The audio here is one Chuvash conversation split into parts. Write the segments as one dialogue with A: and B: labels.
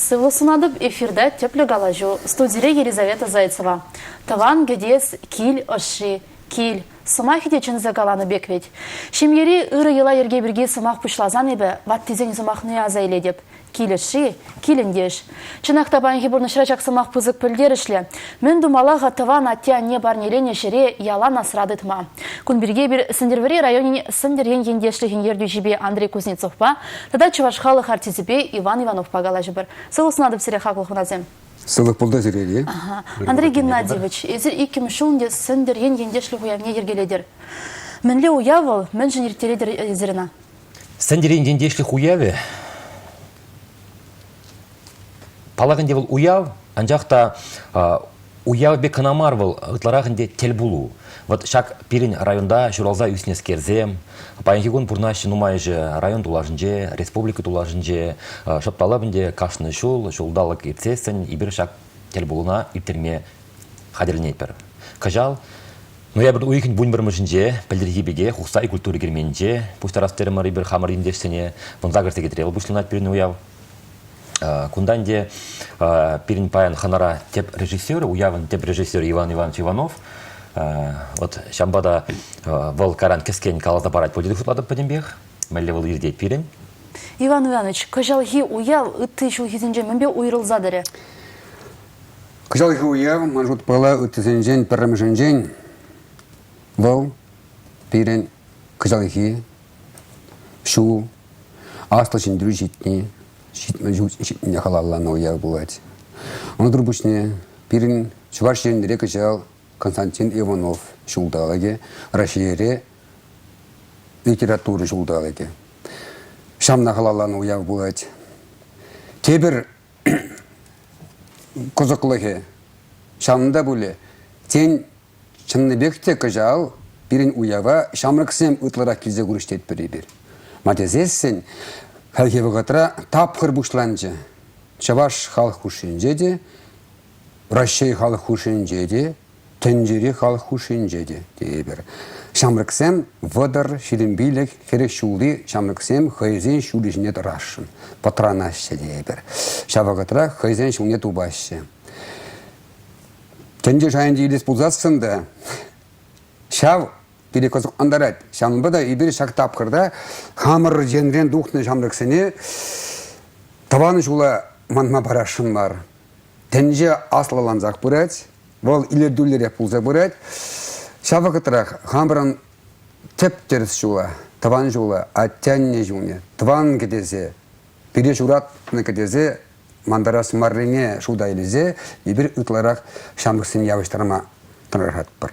A: Сывлӑх сунатӑп эфирда тӗплӗ калаҫу студире Елизавета Зайцева. Тӑван кӗтес кил ӑшши, кил. Сӑмахӗ те чӗнсе каланӑ пек вӗт. Ҫемьери ырӑ йӑла-йӗрке пирки сӑмах пуҫласан эпӗ ваттисен сӑмахне аса илетӗп. Килӗшӳ, килӗнтеш. Чӑнах та паянхи пурнӑҫра ҫак сӑмах пысӑк пӗлтерӗшлӗ. Мӗн тумалла-ха тӑван атте-анне парнеленӗ ҫӗре ялан асра тытма? Кун пирки эпир Сӗнтӗрвӑрри районӗн Сӗнтӗр ен ентешлӗхӗн ертӳҫипе Андрей Кузнецовпа тата чӑваш халӑх артисчӗпе Иван Ивановпа калаҫӑпӑр. Сывлӑх сунатӑп сире, хаклӑ хунасем. Сывлӑх пултӑр
B: сирене. Андрей
A: Геннадьевич, эсир иккӗмӗш ҫул ӗнтӗ Сӗнтӗр ен ентешлӗх уявне йӗркелетӗр. Мӗнле уяв вӑл? Мӗншӗн ирттеретӗр эсир ӑна? Сӗнтӗрен
C: ентешлӗх уявӗ паллах ӗнтӗ вӑл уяв, анчах та уяв пек кӑна мар вӑл, ытларах ӗнтӗ тӗл пулу. Вот ҫак пирӗн районта ҫуралса ӳснӗскерсем, паянхи кун пурнаҫҫӗ нумайӑшӗ район тулашӗнче, республика тулашӗнче, шӑпталап ӗнтӗ кашни ҫул ҫулталӑк иртсессӗн эпир ҫак тӗл пулуна ирттерме хатӗрленетпӗр. Кӑҫал Ноябрь уйӑхӗн вун пӗрмӗшӗнче, пӗлтӗрхи пекех, Ухсай культура керменӗнче пуҫтарас терӗмӗр эпир хамӑр ентешсене. Вунса кӗрсе кӗтре вӑл пуҫланать пирӗн уяв. Кунтан те пирӗн паян хӑнара тӗп режиссер, уявӑн тӗп режиссерӗ Иван Иванович Иванов. Вот ҫавӑнпа та вӑл каран кӗскен каласа парать пуль тесе шутлатӑп пӗтӗмпех. Мӗнле вӑл иртет пирӗн? Иван
A: Иванович, кӑҫалхи уяв ытти ҫулхисенче мӗнпе уйрӑлса тӑрӗ?
B: Кӑҫалхи уяв, ман шутпала, ыттисенчен пӗрремӗшӗнчен вӑл пирӗн кӑҫалхи ҫул Аслӑ Ҫӗнтерӳ ҫитни, ҫитмене халалланӑ уяв пулать. Унсӑр пуҫне пирӗн Чӑваш Енре кӑҫал Константин Иванов ҫулталӑкӗ, Раҫҫейре литература ҫулталӑкӗ. Ҫавна халалланӑ уяв пулать. Тепӗр кӑсӑклӑхӗ ҫавӑнта пулӗ. Тен, чӑннипех те кӑҫал пирӗн уява ҫамрӑксем ытларах килсе курӗҫ тетпӗр эпир. Ма тесессӗн хальхи вӑхӑтра тапхӑр пуҫланчӗ. Чӑваш халӑх хушшинче те, Раҫҫей халӑх хушшинче те Тӗнчери халӑх хушшинче те тейӗпӗр. Ҫамрӑксем вӑтӑр, ҫитӗнпилӗх, хӗрӗх ҫулли ҫамрӑксем хӑйсен ҫулӗ ҫине тӑрасшӑн, пӑтранаҫҫӗ тейӗпӗр. Ҫав вӑхӑтрах хӑйсен ҫулне тупаҫҫӗ. Тӗнче шайӗнче илес пулсассӑн та ҫав пире кӑсӑклантарать. Ҫавӑнпа та эпир ҫак тапхӑрта хамӑр енрен тухнӑ ҫамрӑксене тӑван ҫула манма парасшӑн мар. Тӗнче аслӑлансах пырать, вӑл илӗртӳллӗрех пулса пырать. Ҫав вӑхӑтрах хамӑрӑн тӗп-тӗрӗс ҫула, тӑван ҫула, атте-анне ҫумне, тӑван кӗтесе, пире ҫуратнӑ кӗтесе мантарас маррине шута илсе эпир ытларах ҫамрӑксене явӑҫтарма тӑрӑшатпӑр.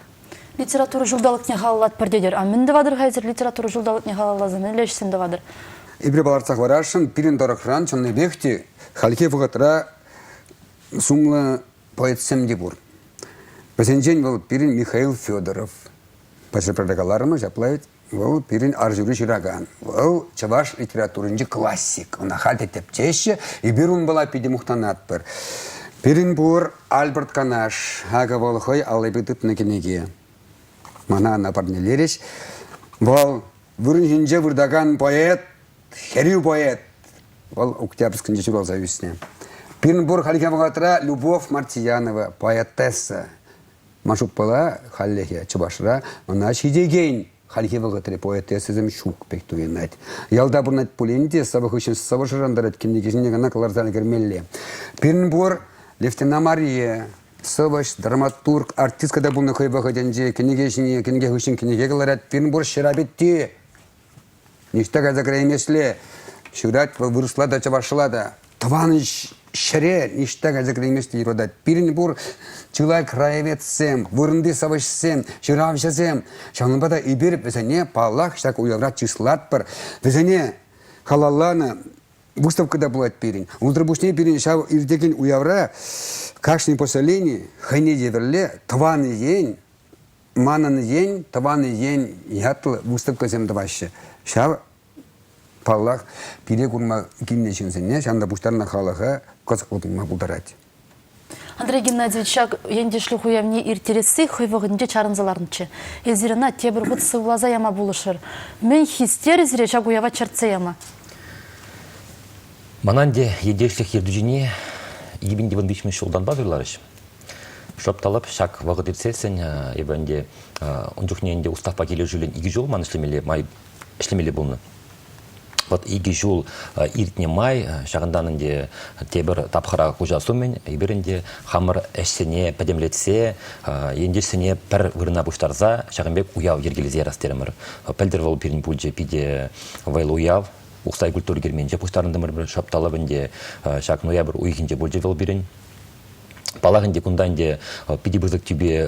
B: Литература
A: ҫулталӑкне халаллатпӑр тетӗр. А мӗн тӑватӑр-ха эсир литература ҫулталӑкне халалласан? Мӗнле ӗҫсем тӑватӑр? Эпир палӑртса
B: хӑварасшӑн, пирӗн тӑрӑхран чӑннипех те хальхи вӑхӑтра сумлӑ поэтсем те пур. Вӗсенчен вӑл пирӗн Михаил Федоров. Пӗҫӗпӗрре каларӑмӑр, ҫапла вӑл пирӗн арҫури ҫыракан. Вӑл чӑваш литературинчи классик. Ӑна халь те тӗпчеҫҫӗ. Эпир унпала питӗ мухтанатпӑр. Пирӗн пур Альберт Канаш. Акӑ вӑл хӑй аллипе тытнӑ кӗнеке. Мана ӑна парнелерӗҫ. Вӑл вырӑн ҫинче выртакан поэт хӗрӳ поэт. Вӑл Октябрьскинче ҫуралса ӳснӗ. Пирӗн пур хальхи вӑхӑтра Любовь Мартиянова, поэтесса. Ман шутпала хальлӗхе Чӑвашра ӑна ҫитекен хальхи вӑхӑтри поэтессӑсем ҫук пек туйӑнать. Ялта пурӑнать пулин те сӑвӑ хыҫҫӑн сӑвӑ шӑрантарать, кӗнеке ҫине кӑна кӑларса ӗлкӗрмелле. Пирӗн пур Левтина Мария, сӑвӑҫ, драматург, артистка та пулнӑ хӑй вӑхӑтӗнче. Кӗнеке ҫине, кӗнеке хыҫҫӑн кӗнеке кӑларать. Пирӗн пур ҫӑра петти, Ниҫта кайса кӗреймесле ҫырать вӑл вырӑсла та, чӑвашла та. Тӑван ҫӗре ниҫта кайса кӗреймесле юратать. Пирӗн пур чылай краеведсем, вырӑнти сӑвӑҫсем, ҫыравҫӑсем. Ҫавӑнпа та эпир вӗсене, паллах, ҫак уявра чыслатпӑр. Вӗсене халалланӑ выставка та пулать пирӗн. Унсӑр пуҫне пирӗн ҫав иртекен уявра кашни поселени хӑйне евӗрле тӑван ен, Манӑн ен, тӑван ен ятлӑ выставкӑсем тӑваҫҫӗ. Ҫав, паллах, пире курма килнӗ ҫынсене, ҫавӑн та пуҫтарнӑ халӑха кӑсӑклӑ туйма пултарать. Андрей
A: Геннадьевич ҫак ентешлӗх уявне ирттересси хӑй вӑхӑтӗнче чарӑнса ларнӑччӗ. Эсир ӑна тепӗр хут сывласа яма пулӑшӑр. Мӗн хистерӗ сире ҫак уява чӗртсе яма? Ман
C: ӗнтӗ ентешлӗх ертӳҫине Евентий Иванович мӗн ҫултанпа суйларӗҫ. Шӑпталӑп ҫак вӑхӑт иртсессӗн эпӗ ӗнтӗ ун чухне ӗнтӗ уставпа килӗшӳллӗн икӗ ҫул ман ӗҫлемелле май ӗҫлемелле пулнӑ. Вот икӗ ҫул иртнӗ май ҫакӑнтан ӗнтӗ тепӗр тапхӑра куҫас умӗн эпир ӗнтӗ хамӑр ӗҫсене пӗтӗмлетсе ентешсене пӗр вырӑна пуҫтарса ҫакӑн пек уяв йӗркелесе ярас терӗмӗр. Пӗлтӗр вӑл пирӗн пулчӗ питӗ вӑйлӑ уяв. Ухсай культура керменче пуҫтарӑнтӑмӑр шӑпталӑп ӗнтӗ. Ҫак ноябрь уйӑхӗнче пулчӗ вӑл пирӗн. Палах ӗнтӗ кунта ӗнтӗ питӗ пысӑк тӳпе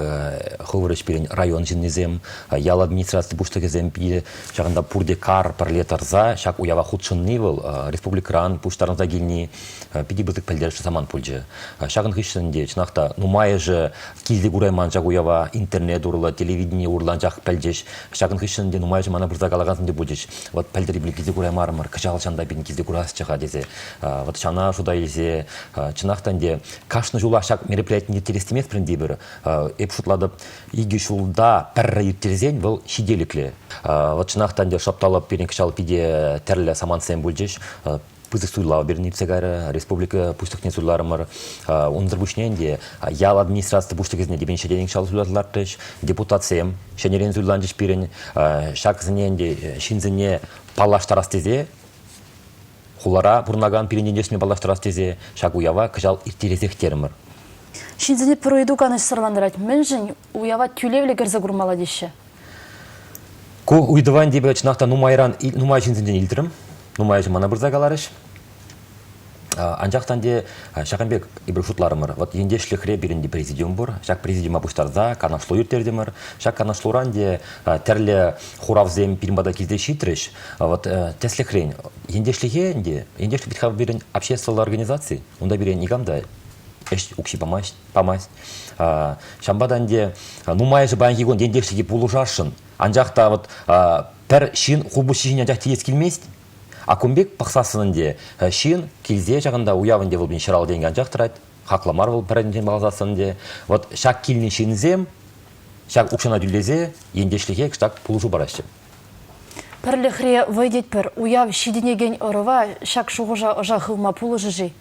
C: хӑвӑр ӗҫперен район ҫыннисем, ял администраци пуҫлӑхӗсем питӗ ҫакӑнта пурте кар пӗрле тӑрса ҫак уява хутшӑнни вӑл республикӑран пуҫтарӑнса килни питӗ пысӑк пӗлтерӗшлӗ самант пулчӗ. Ҫакӑн хыҫҫӑн те чӑнах та нумайӑшӗ килте курайман ҫак уява интернет урлӑ телевидени урлӑ анчах пӗлчӗҫ. Ҫакӑн хыҫҫӑн те нумайӑшӗ мана пырса калакансем те пулчӗҫ. Вот пӗлтӗр эпир килте кураймарӑмӑр, кӑҫал ҫанта пирӗн килте курасчӗ-ха тесе. Вот ҫана шута илсе, чӑнах та ӗнтӗ, кашни ҫулах ҫак мероприятие ирттерес те пир. Эп шутлатӑп, икӗ ҫулта пӗрре ирттерсен вӑл ҫителӗклӗ. Вот чӑнах та ӗнтӗ шапталӑп пирӗн кӑҫал питӗ тӗрлӗ самантсем пулчӗҫ пысӑк суйлав берни иртсе кайрӗ, республика пуҫлӑхне суйларӑмӑр. Унсӑр пуҫне ӗнтӗ ял администраци пуҫлӑхӗсене тепен ҫӗнӗрен ҫал суйлаттартрӗҫ, депутатсем ҫӗнӗрен суйланчӗҫ пирӗн. Ҫаксене ӗнтӗ ҫынсене паллаштарас тесе Хулара пурӑнакан пирӗн ентешме паллаштарас тесе ҫак уява кӑҫал ирттересех терӗмӗр. Ҫынсене
A: пӗр ыйту канӑҫсӑрлантарать, мӗншӗн уява тӳлевлӗ кӗрсе курмалла теҫҫӗ?
C: Ку ыйтӑван типӗ чӑнах та нумайран нумай ҫынсенчен илтрӗм. Нумай ҫын мана пырса каларӗҫ. Анчах та те ҫакӑн пек эпир шутларӑмӑр, вот ентешлӗхре пирӗн те президиум пур. Ҫак президиума пуҫтарса канашлу ирттертӗмӗр. Ҫак канашлуран те тӗрлӗ хуравсем пирӗн пата килсе ҫитрӗҫ. Вот тӗслӗхрен, ентешлӗхе ӗнтӗ, ентешлӗх вӗт-ха пирӗн обществӑлла организаци, унта пире никам та ӗҫ укҫи памасть, памасть. Ҫавӑнпа та ӗнтӗ нумайӑшӗ паянхи кун ентешлӗхе пулӑшасшӑн, анчах та вот пӗр ҫын хулпуҫҫи ҫине анчах тиес килмест. А кун пек пӑхсассӑн ӗнтӗ ҫын килсе ҫакӑнта уяв ӗнтӗ вӑл пин ҫӑрал тенкӗ анчах тӑрать, хакла мар вӑл пӗррехинчен палласассӑн ӗнтӗ. Вот ҫак килнӗ ҫынсем ҫак укҫана тӳлесе ентешлӗхе кӑштах пулӑшу параҫҫӗ.
A: Пӗрлӗхре вӑй тетпӗр, уяв ҫитӗнекен ӑрӑва ҫак шухӑша ӑша хывма пулӑшӗ-ши?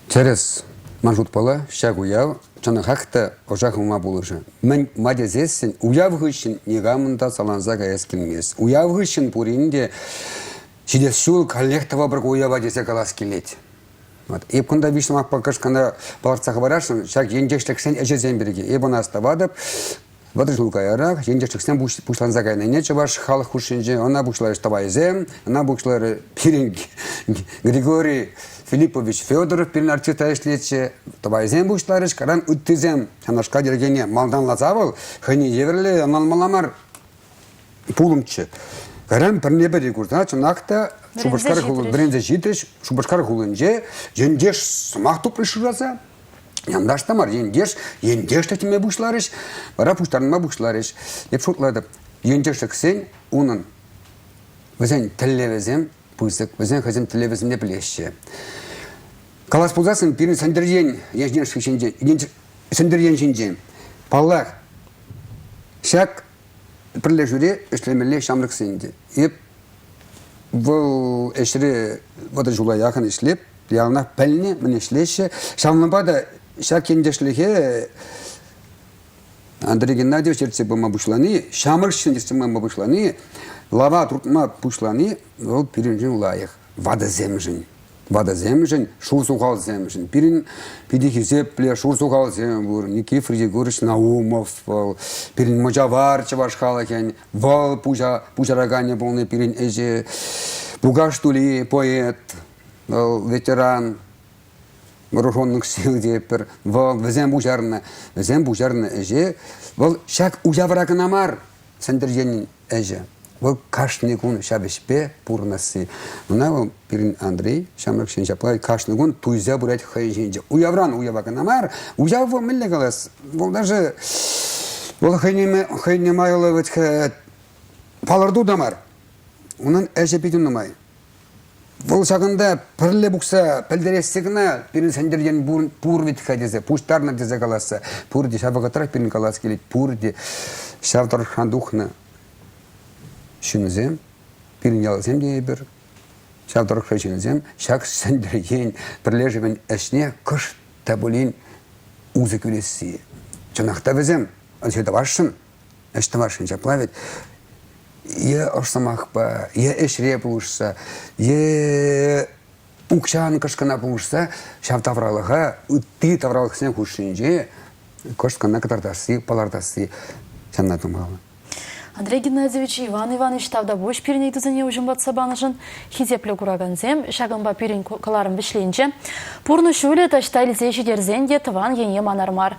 A: Тӗрӗс.
B: Ман шутпала, ҫак уяв чӑнӑхах та ӑша хывма пулӑшӗ. Мӗн-ма тесессӗн уяв хыҫҫӑн никамӑн та саланса каяс килмест. Уяв хыҫҫӑн пурин те ҫитес ҫул каллех тӑвӑпӑр ку уява тесе калас килет. Вот. Эп кунта виҫ сӑмахпа кӑшкӑна палӑртса хӑварасшӑн ҫак ентешлӗхсен ӗҫӗсем пирки. Эп ӑна астӑватӑп. Вӑтӑр ҫул каярах ентешлӗхсем пуҫланса кайнине чӑваш халӑх хушшинче ӑна пуҫларӗҫ тӑвайсем, ӑна пуҫларӗ пирӗн Григорий Филиппович Федоров пирӗн артиста ӗҫлетчӗ. Тӑвайсем пуҫларӗҫ, каран ыттисем ҫавнашкал йӗркене малтанласа вӑл хӑйне евӗрлӗ ӑнланмалла мар пулӑмччӗ. Каран пӗрне-пӗри курса чӑнах та Шупашкар хулинче ентеш сӑмах тупрӑш шыраса Янташ та мар, ентеш, ентешлӗх теме пуҫларӗҫ, вара пуҫтарӑнма пуҫларӗҫ. Эп шутлатӑп, ентешлӗхсен унӑн вӗсен тӗллевӗсем пысӑк, вӗсен хӑйсен тӗллевӗсемне пӗлеҫҫӗ. Калас пулсассӑн пирӗн Сӗнтӗрьен ентешлӗх ҫинче, Сӗнтӗрьен ҫинче, паллах, ҫак пӗрлешӳре ӗҫлемелле ҫамрӑксен те. Эп вӑл ӗҫре вӑтӑр ҫула яхӑн ӗҫлеп, яланах пӗлнӗ, мӗн ӗҫлеҫҫӗ. Ҫавӑнпа та ҫак ентешлӗхе Андрей Геннадьевич ертсе пыма пуҫлани, ҫамрӑкҫын ертсе пыма пуҫлани, лава туртма пуҫлани вӑл пирӗншӗн лайӑх, ватӑсемшӗн. ватӑсемшӗн, шур сухалсемшӗн. Пирӗн питӗ хисеплӗ шур сухалсем пур. Никифор Егорович Наумов вӑл, пирӗн мӑчавар чӑваш халӑхӗн вӑл пуҫа, пуҫараканӗ пулнӑ пирӗн ӗҫе. Пукаш Тули поэт, вӑл ветеран, вооруженных сил те пӗр, вӑл вӗсем пуҫарнӑ, вӗсем пуҫарнӑ ӗҫе, вӑл ҫак уявра кӑна мар, Сӗнтӗрчен ӗҫӗ. Вӑл кашни кун ҫав ӗҫпе пурӑнасси. Мына вӑл пирӗн Андрей ҫамрӑкҫын ҫапла кашни кун туйса пырать хӑйӗн ҫинче. Уявран уява кӑна мар, уяв вӑл мӗнле калас? Вӑл даже вӑл хӑйне, хӑйне майлӑ вӗт палӑрту та мар. Унӑн ӗҫӗ питӗ нумай. Вӑл ҫакӑнта пӗрле пухса пӗлтересси кӑна пирӗн Сӗнтӗр Ен пур вӗт-ха тесе, пуҫтарнӑ тесе каласса, пурте ҫав вӑхӑтрах пирӗн калас килет, пурте ҫав тӑрӑхран тухнӑ ҫынсем, пирӗн ялсем те эпир, ҫав тӑрӑхри ҫынсем ҫак Сӗнтӗр Ен пӗрлешӗвӗн ӗҫне кӑшт та пулин усӑ кӳресси. Чӑнах та вӗсем ӗҫе тӑвасшӑн, ӗҫ тӑвасшӑн ҫапла вӗт е ӑш сӑмахпа, е ӗҫре пулӑшса, е укҫан кӑшкӑна пулӑшса ҫав тавралӑха, ытти тавралӑхсен хушшинче кӑшт кӑна кӑтартасси, палӑртасси ҫанна тумалла. Андрей
A: Геннадьевич Иван Иванович тавтапуҫ пирӗн ыйтусене уҫӑмлатса панӑшӑн. Хисеплӗ куракансем, ҫакӑнпа пирӗн кӑларӑм вӗҫленчӗ. Пурнӑҫ ҫулӗ таҫта илсе ҫитерсен те тӑван ене манар мар,